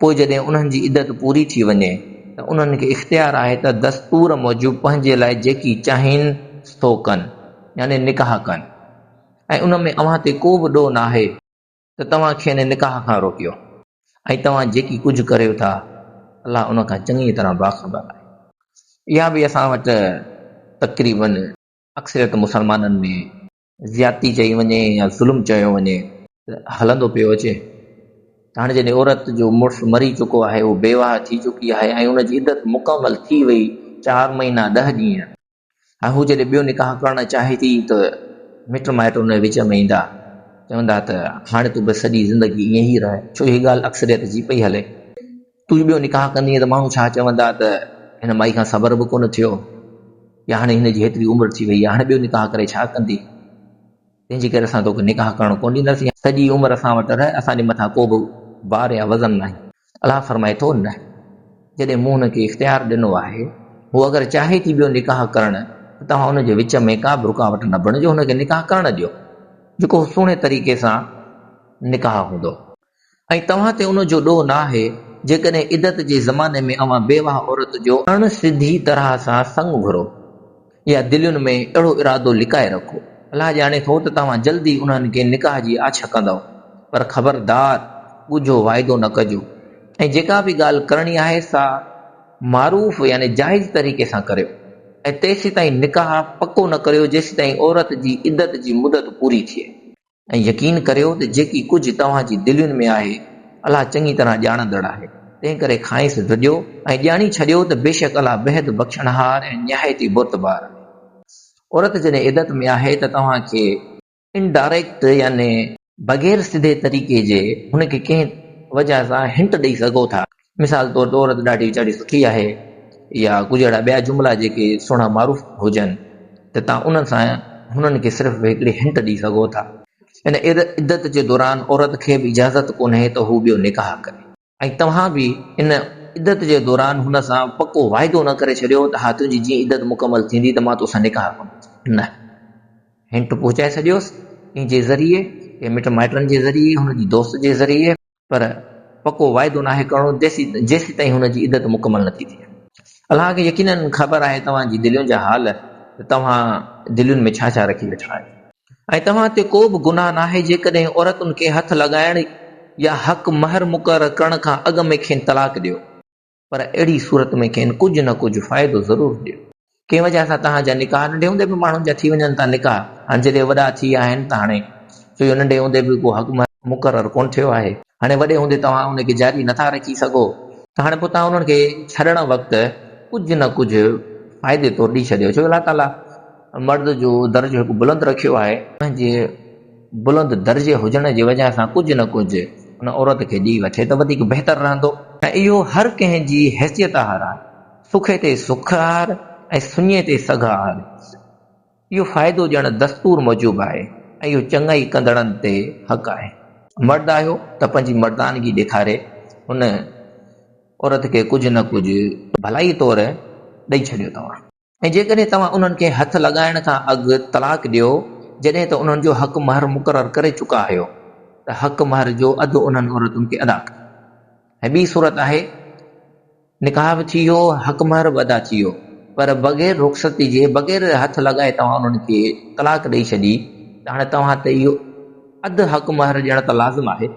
پوء جڏهن انهن جي عدت پوري ٿي وڃي ته انهن کي اختيار آهي ته دستور موجب پنهنجي لاء جيڪي چاهين سو ڪن يعني نڪاح ڪن ۽ ان ۾ اوهان تي ڪو به ڏوهه ناهي ته توهان کين نڪاح کان روڪيو ۽ توهان جيڪي ڪجهه ڪريو ٿا الله ان کان چڱيء طرح باخبر آهي. اها به اسان وٽ تقريبن اڪثريت مسلمانن ۾ زيادتي چئي وڃي يا ظلم چيو وڃي ته هلندو پيو اچي ته هاڻي جڏهن عورت جو مڙس مري چڪو آهي اهو بيواهه ٿي چڪي آهي ۽ ان جي عدت مڪمل ٿي وئي چار مهينا ڏهه ڏينهن ۽ هو جڏهن ٻيو نڪاح ڪرڻ چاهي ٿي ته مٽ مائٽ ان جي وچ ۾ ايندا چوندا ته هاڻي تون بس سڄي زندگي ائين ئي رهه ڇو هي ڳالهه اڪثريت جي پئي هلي. تون ٻيو نڪاح ڪندينء ته ماڻهو ڇا چوندا ته هن مائي کان صبر به ڪونه ٿيو يا هاڻي هن جي هيتري عمر ٿي وئي آهي، هاڻي ٻيو نڪاح ڪري ڇا ڪندين؟ تنهن جي ڪري اسان توکي نڪاح ڪرڻ ڪونه ڏينداسين. سڄي عمر اسان وٽ رهه، اسان جي مٿان ڪو به بار يا وزن ناهي. الله فرمائي ٿو، نه، جڏهن مون هن کي اختيار ڏنو آهي، هوء اگر چاهي ٿي ٻيو نڪاح ڪرڻ ته توهان ان جي وچ ۾ ڪا به رڪاوٽ نه بڻجو، هن کي نڪاح ڪرڻ ڏيو، جيڪو سهڻي طريقي سان نڪاح هوندو. ۽ توهان تي ان جو ڏوهه ناهي جيڪڏهن عدت جي زماني ۾ اوهان بيواهه عورت جو اڻ سڌي طرح سان سڱ گهرو يا دلين ۾ اهڙو ارادو لڪائي رکو، الله ڄاڻي ٿو ته توهان جلد ئي انهن کي نڪاح جي آڇ ڪندؤ، پر خبردار ڳجهو واعدو نه ڪجو ۽ جيڪا به ڳالهه ڪرڻي آهي سا معروف يعني جائز طريقي سان ڪريو ۽ تيسيتائين نڪاح پڪو نه ڪريو جيسيتائين عورت جي عدت جي مدت پوري ٿئي. ۽ يقين ڪريو ته جيڪي ڪجهه توهان جي دلين ۾ آهي، الله چڱي طرح ڄاڻندڙ آهي، تنهنڪري کانئس ڊڄو ۽ ڄاڻي ڇڏيو ته بيشڪ الله بيحد بخشڻهار ۽ نهايت ئي بردبار آهي. عورت جڏهن عدت ۾ آهي ته توهان کي. Indirect يعني بغير سڌي طريقي جي هن کي ڪنهن وجهه سان هنٽ ڏئي سگهو ٿا. مثال طور تي عورت ڏاڍي ويچاري سٺي آهي يا ڪجهه اهڙا ٻيا جملا جيڪي سهڻا معروف هجن ته توهان انهن سان هنن کي صرف هڪڙي هنٽ ڏئي سگهو ٿا. ان عدت جي دوران عورت کي به اجازت ڪونهي ته هو ٻيو نڪاح ڪري ۽ توهان به ان عدت جي دوران هن سان پڪو واعدو نه ڪري ڇڏيو ته ها تنهنجي جيئن عدت مڪمل ٿيندي ته مان توسان نڪاح ڪندس نه هنٽ پهچائي ڇڏيوس ان جي ذريعي ڪنهن مٽ مائٽن جي ذريعي هن جي دوست جي ذريعي. پر پڪو واعدو ناهي ڪرڻو جيسيتائين هن جي عدت مڪمل نٿي ٿئي. الله کي يقيناً خبر آهي توهان جي دلين جا حال ته توهان دلين ۾ ڇا ڇا رکي ويٺا آهيو. ۽ توهان تي ڪو به گناهه ناهي جيڪڏهن عورتن کي هٿ لڳائڻ يا حق مهر مقرر ڪرڻ کان اڳ ۾ کين طلاق ڏيو. پر اهڙي صورت ۾ کين ڪجهه نه ڪجهه فائدو ضرور ڏيو. ڪنهن وجهه سان توهان جا نڪاح ننڍي هوندي به ماڻهن جا ٿي وڃن ٿا نڪاح هاڻ جڏهن وڏا ٿي ويا آهن ته هاڻي ڇو جو ننڍي هوندي به ڪو حق مهر مقرر ڪونه ٿيو آهي هاڻي وڏي هوندي توهان ان کي جاري نه ٿا رکي سگهو ته هاڻي پوء توهان انهن کي ڇڏڻ وقت ڪجهه نه ڪجهه فائدي طور ڏئي ڇڏيو ڇو جو الله تعاليٰ مرد جو درجو هڪ بلند رکيو آهي. پنهنجي بلند درجي هجڻ جي وجهه سان ڪجهه نه ڪجهه ان عورت کي ڏيئي وٺي ته وڌيڪ بهتر رهندو. ۽ اهو هر ڪنهن جي حيثيت آهر آهي. سکي تي سک آهر ۽ سڃي تي سگهه آهر. اهو فائدو ڏيڻ دستور موجب آهي ۽ اهو چڱائي ڪندڙن تي حق آهي. مرد آهيو ته پنهنجي مردانگي ڏيکاري ان عورت کي ڪجهه نه ڪجهه ڀلائي طور ڏئي ڇڏيو توهان. ۽ جيڪڏهن توهان انهن کي هٿ لڳائڻ کان اڳ طلاق ڏيو جڏهن ته انهن جو حق مهر مقرر ڪري چڪا آهيو ته حق مهر جو اڌ انهن عورتن کي ادا ڪريو ۽ ٻي صورت آهي نڪاح به ٿي ويو حق مهر به ادا ٿي ويو پر بغير رخصتي جي بغير هٿ لڳائي توهان انهن کي طلاق ڏئي ڇڏي ته هاڻي توهان تي اهو اڌ حق مهر ڏيڻ ته لازم آهي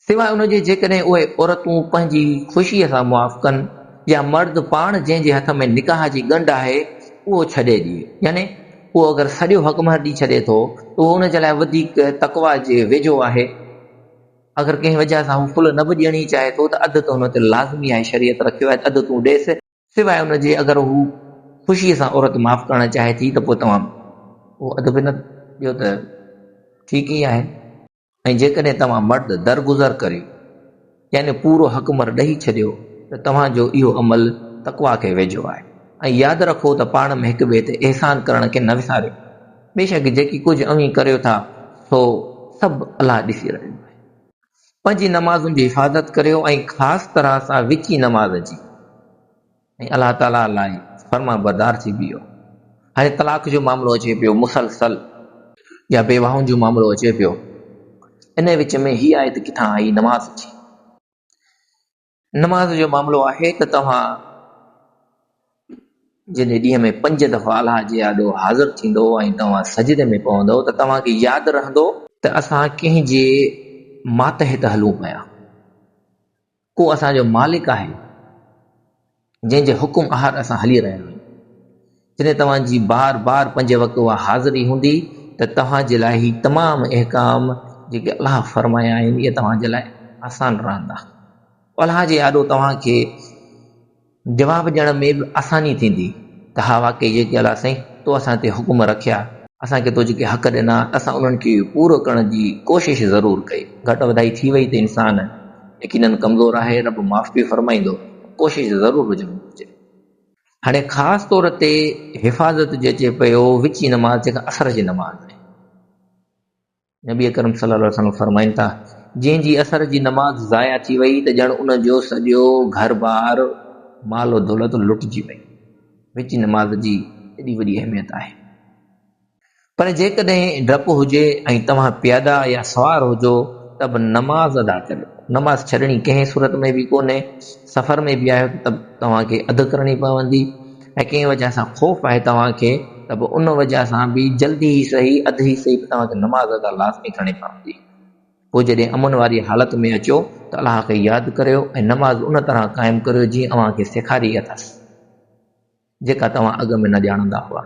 سواء ان جي جيڪڏهن اهي عورتون پنهنجي خوشيء سان موافقن يا مرد پاڻ جنهن جي هٿ ۾ نڪاح جي ڳنڍ آهي اهو ڇڏي ڏئي يعني اهو اگر سڄو حق مهر ڏئي ڇڏي ٿو ته اهو ان جي لاء وڌيڪ تقويٰ جي ويجهو آهي. اگر ڪنهن وجهه سان هو ڦل نه به ڏيڻي چاهي ٿو ته اڌ ته هن تي لازمي آهي شريعت رکيو آهي ته اڌ تون ڏيس. سواء ان جي اگر هو خوشيء سان عورت معاف ڪرڻ چاهي ٿي ته پوء توهان اهو اڌ به نه ڏيو ته ٺيڪ ئي آهي. ۽ جيڪڏهن توهان مرد درگذر ڪريو، يعني پورو حق مھر ڏئي ڇڏيو، ته توهان جو اهو عمل تقويٰ کي ويجهو آهي. ۽ ياد رکو ته پاڻ ۾ هڪ ٻئي تي احسان ڪرڻ کي نه وساريو. بيشڪ جيڪي ڪجهه اوهين ڪريو ٿا، سو سڀ الله ڏسي رهيو آهي. پنھنجي نمازن جي حفاظت ڪريو ۽ خاص طرح سان وچين نماز جي. ۽ الله تعاليٰ لاء فرمانبردار ٿي بيهو. هاڻي طلاق جو معاملو اچي پيو، مسلسل يا بيواهن جو معاملو اچي پيو، انهيء وچ ۾ هيء آيت ڪٿان آئي؟ نماز جي. نماز جو معاملو آهي ته توهان جڏهن ڏينهن ۾ پنج دفعا الله جي آڏو حاضر ٿيندؤ ۽ توهان سجدي ۾ پوندؤ ته توهان کي ياد رهندو، ته اسان ڪنهن جي ماتحت هلون پيا، هو اسان جو مالڪ آهي، جنهن جي حڪم آهر اسان هلي رهيا آهيون. جڏهن توهان جي بار بار پنج وقت اها حاضري هوندي ته توهان جي لاء هي تمام احڪام جيڪي الله فرمايا آهن اهي توهان جي لاء آسان رهندا. الله جي آڏو توهان کي جواب ڏيڻ ۾ به آساني ٿيندي ته ها واقعي جيڪي الله سائين تو اسان تي حڪم رکيا، اسان کي تو جيڪي حق ڏنا ته اسان انهن کي پورو ڪرڻ جي ڪوشش ضرور ڪئي، گهٽ وڌائي ٿي وئي ته انسان يقينن ڪمزور آهي، رب معاف به فرمائيندو پر ڪوشش ضرور هجڻ گهرجي. هاڻي خاص طور تي حفاظت جو اچي پيو وچين نماز جيڪا اثر جي نماز آهي. نبي اڪرم صلي الله عليه وسلم فرمائن ٿا، جنهن جي عصر جي نماز ضايع ٿي وئي ته ڄڻ ان جو سڄو گهر بار، مال و دولت لٽجي وئي. وچ نماز جي ايڏي وڏي اهميت آهي. پر جيڪڏهن ڊپ هجي ۽ توهان پيادا يا سوار هجو ته به نماز ادا ڪريو. نماز ڇڏڻي ڪنهن صورت ۾ به ڪونهي. سفر ۾ به آهيو ته توهان کي اڌ ڪرڻي پوندي. ۽ ڪنهن وجهه سان خوف آهي توهان کي ته به ان وجهه سان به جلدي ئي سهي اڌ ئي سهي پر توهان کي نماز ادا لازمي ڪرڻي پوندي. پوء جڏهن امن واري حالت ۾ اچو ته الله کي ياد ڪريو ۽ نماز ان طرح قائم ڪريو جيئن اوهان کي سيکاري اٿس جيڪا توهان اڳ ۾ نه ڄاڻندا هئا.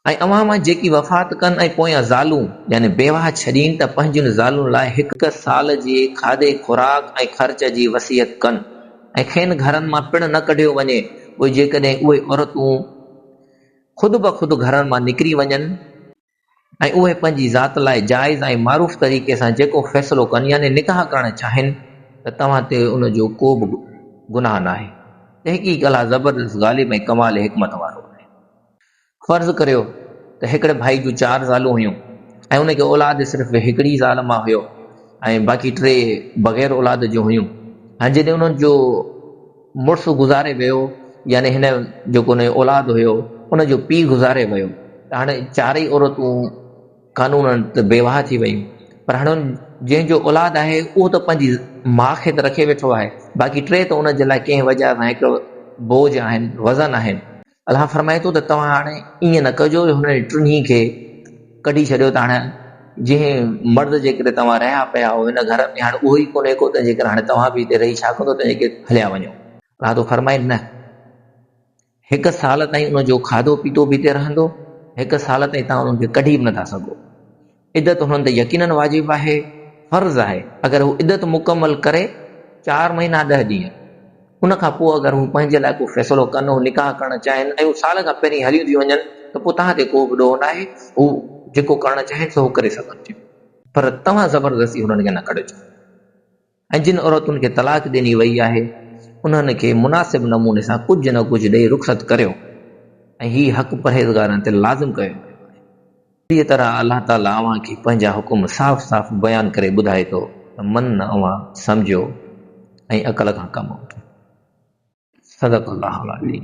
۽ اوهان مان جيڪي وفات ڪن ۽ پويان زالون يعني بيواهه ڇڏين ته پنهنجين زالن لاء هڪ سال جي کاڌي خوراڪ ۽ خرچ جي وصيت ڪن ۽ کين گهرن مان پڻ نه ڪڍيو وڃي پوء جيڪڏهن اهي عورتون خود بخود گهرن مان نڪري وڃن ۽ اهي پنهنجي ذات لاء جائز ۽ معروف طريقي سان جيڪو فيصلو ڪن يعني نڪاح ڪرڻ چاهين ته توهان تي ان جو ڪو به گناهه ناهي. تحقيق الله زبردست غالب ۽ ڪمال حڪمت وارو آهي. فرض ڪريو ته هڪڙي ڀائي جون چار زالون هيون ۽ ان کي اولاد صرف هڪڙي زال مان هيو ۽ باقي ٽي بغير اولاد جون هيون ۽ جڏهن انهن جو مڙس گذاري ويو يعني هن جو ڪو نه اولاد هيو ان جو پيء گذاري ويو ته هاڻي چارئي عورتون قانونن ته بيواهه ٿي ويون پر هاڻي جنهن جو اولاد آهي اهو ته پنهنجي ماء کي ته رکي ويٺو آهي باقي ٽي ته ان جي لاء ڪنهن وجهه سان هڪ بوجهه آهن وزن آهن. الله فرمائي ٿو ته توهان هاڻي ائين نه ڪجو جو هنن ٽنهي کي ڪڍي ڇڏيو ته هاڻي جنهن مرد جي ڪري توهان رهيا پيا آهيو هن گهر ۾ هاڻي اهو ئي ڪونهي ڪو تنهنجي ڪري هاڻي توهان به هتي رهي ڇا ڪندو تنهنجي ڪري هليا وڃو. الله ٿو فرمائي نه هڪ سال تائين ان جو کاڌو پيتو به هتي رهندو هڪ سال تائين توهان انهن کي ڪڍي به نه ٿا سگهو. عدت هنن تي يقيناً واجب آهي، فرض آهي، اگر هو عدت مڪمل ڪري، چار مهينا ڏهه ڏينهن، ان کان پوء اگر هو پنهنجي لاء ڪو فيصلو ڪن، هو نڪاح ڪرڻ چاهين ۽ هو سال کان پهرين هليون ٿيون وڃن ته پوء توهان تي ڪو به ڏوهه ناهي، هو جيڪو ڪرڻ چاهين سو هو ڪري سگهن ٿيون، پر توهان زبردستي هنن کي نه ڪڍجو. ۽ جن عورتن کي طلاق ڏني وئي آهي انهن کي مناسب نموني سان ڪجهه نه ڪجهه ڏئي رخصت ڪريو ۽ هي حق پرهيزگارن تي لازم ڪيو ويو آهي. اهڙيء طرح الله تعاليٰ اوهان کي پنهنجا حڪم صاف صاف بيان ڪري ٻڌائي ٿو ته من اوهان سمجهو ۽ عقل کان ڪم وٺو. صدق الله العظيم.